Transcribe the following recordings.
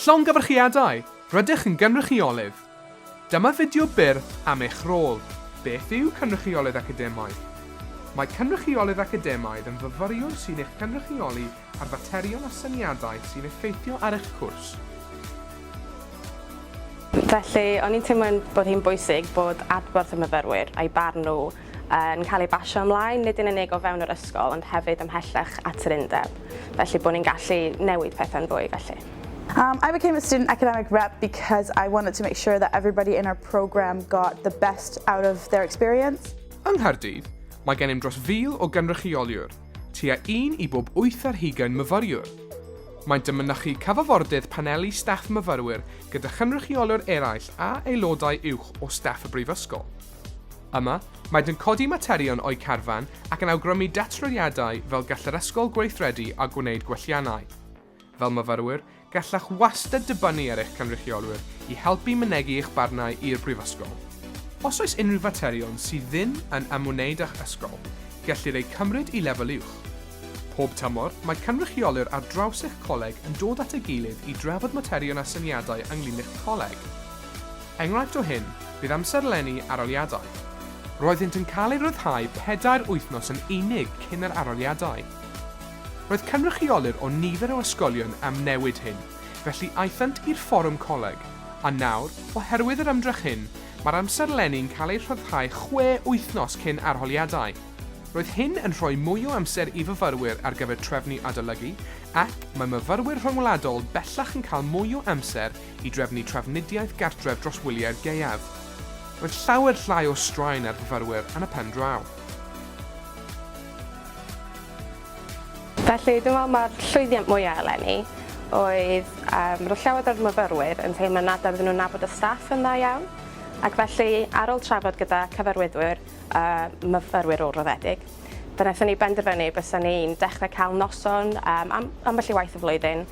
Llongyfarchiadau! Rydych yn gynrychiolydd! Dyma fideo byr am eich rôl. Beth yw Cynrychiolydd Academaidd? Mae Cynrychiolydd Academaidd yn fyfyriwr sy'n eich cynrychioli ar faterion a syniadau sy'n effeithio ar eich cwrs. Felly, o'n i'n teimlo bod hi'n bwysig bod adborth y myfyrwyr, a'u barn nhw, yn cael ei basio ymlaen, nid yn unig o fewn yr ysgol ond hefyd ymhellach at yr undeb, felly bod ni'n gallu newid pethau'n fwy felly. Um, I became a student academic rep because I wanted to make sure that everybody in our programme got the best out of their experience. Yng Nghaerdydd, mae gennym dros fil o gynrychioliwr, tua un i bob wyth ar hugain myfyriwr. Maent yn mynychu cyfafordydd paneli staff myfyrwyr gyda chynrychioliwr eraill a aelodau uwch o staff y Brifysgol. Yma, maent yn codi materion o'u carfan ac yn awgrymu datryniadau fel gall yr ysgol gweithredu a gwneud gwelliannau. Fel myfyrwyr, gallech wastad dibynnu ar eich cynrychiolwyr i helpu mynegi eich barnau i'r Brifysgol. Os oes unrhyw faterion sydd ddim yn ymwneud â'ch ysgol, gellir eu cymryd i lefel uwch. Pob tymor, mae cynrychiolwyr ar draws eich coleg yn dod at ei gilydd i drafod materion a syniadau ynglŷn â'ch coleg. Enghraifft o hyn fydd amserlenni aroliadau. Roeddynt yn cael eu rhyddhau pedair wythnos yn unig cyn yr aroliadau. Roedd cynrychiolir o nifer o ysgolion am newid hyn, felly aethant i'r Fforwm Coleg, a nawr, oherwydd yr ymdrech hyn, mae'r amserlenni'n cael eu rhyddhau chwe wythnos cyn arholiadau. Roedd hyn yn rhoi mwy o amser i fyfyrwyr ar gyfer trefnu adolygu ac mae myfyrwyr rhyngwladol bellach yn cael mwy o amser i drefnu trafnidiaeth gartref dros wyliau'r gaeaf. Roedd llawer llai o straen ar fyfyrwyr yn y pen draw. Felly, dwi'n meddwl mae'r llwyddiant mwyaf eleni oedd um, roedd llawer o'r myfyrwyr yn teimlo nad oedden nhw'n nabod y staff yn dda iawn, ac felly ar ôl trafod gyda cyfarwyddwyr a uh, myfyrwyr ôl-roddedig, fe wnaethon ni benderfynu bys ni'n dechrau cael noson um, am, ambell i waith y flwyddyn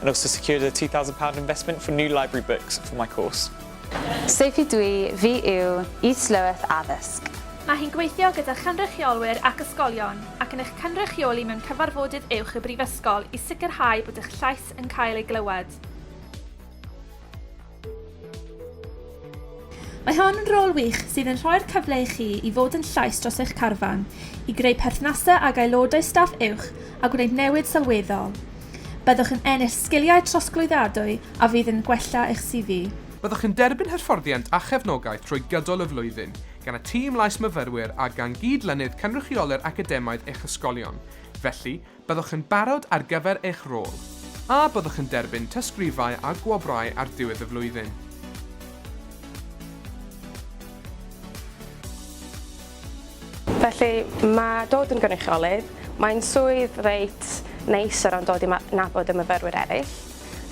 and also secured a £2,000 investment for new library books for my course. Sef i dwi, fi yw, Is-lywyth Addysg. Mae hi'n gweithio gyda chynrychiolwyr ac ysgolion ac yn eich cynrychioli mewn cyfarfodydd uwch y Brifysgol i sicrhau bod eich llais yn cael ei glywed. Mae hon yn rôl wych sydd yn rhoi'r cyfle i chi i fod yn llais dros eich carfan, i greu perthnasau ag aelodau staff uwch a gwneud newid sylweddol. Byddwch yn ennill sgiliau trosglwyddadwy a fydd yn gwella eich CV. Byddwch yn derbyn hyfforddiant a chefnogaeth trwy gydol y flwyddyn, gan y tîm lais myfyrwyr a gan gyd-lynydd cynrychioli'r academaidd eich ysgolion. Felly, Byddwch yn barod ar gyfer eich rôl, a byddwch yn derbyn tystgrifau a gwobrau ar ddiwedd y flwyddyn. Felly, mae dod yn gynrychiolydd, mae'n swydd reit neis o ran dod i 'nabod y myfyrwyr eraill.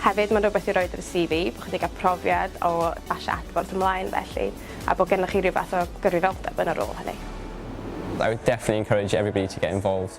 Hefyd, mae'n rhywbeth i roid ar y CV, bod chi wedi cael profiad o basio adborth ymlaen felly, a bod gennych chi rhyw fath o gyrfyfyrdeb yn y rôl hynny. I would definitely encourage everybody to get involved.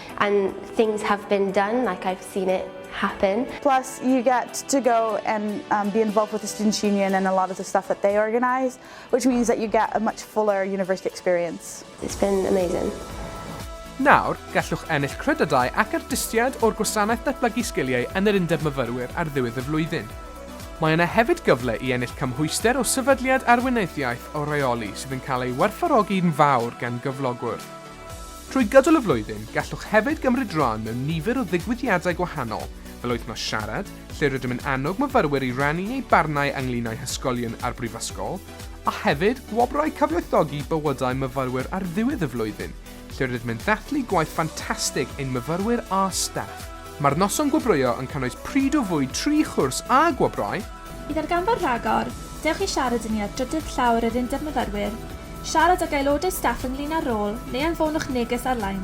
And things have been done, like I've seen it happen. Plus you get to go and um, be involved with the Students' Union and a lot of the stuff that they organise, which means that you get a much fuller university experience. It's been amazing. Nawr, gallwch ennill credydau ac ardystiad o'r Gwasanaeth Datblygu Sgiliau yn yr Undeb Myfyrwyr ar ddiwedd y flwyddyn. Mae yna hefyd gyfle i ennill cymhwyster o sefydliad arweinyddiaeth o reoli sydd yn cael ei werthfawrogi'n fawr gan gyflogwr. Trwy gydol y flwyddyn, gallwch hefyd gymryd rhan mewn nifer o ddigwyddiadau gwahanol, fel Wythnos Siarad, lle rydym yn annog myfyrwyr i rannu eu barnau ynglŷn â'u hysgolion a'r brifysgol, a hefyd Gwobrau Cyfoethogi Bywydau Myfyrwyr ar ddiwedd y flwyddyn, lle rydym yn dathlu gwaith ffantastig ein myfyrwyr a staff. Mae'r noson gwobrwyo yn cynnwys pryd o fwyd tri chwrs a gwobrau. I ddarganfod rhagor, dewch i siarad â ni ar drydydd llawr yr Undeb Myfyrwyr, siarad ag aelodau staff ynglŷn â'r rôl neu anfonwch neges ar-lein.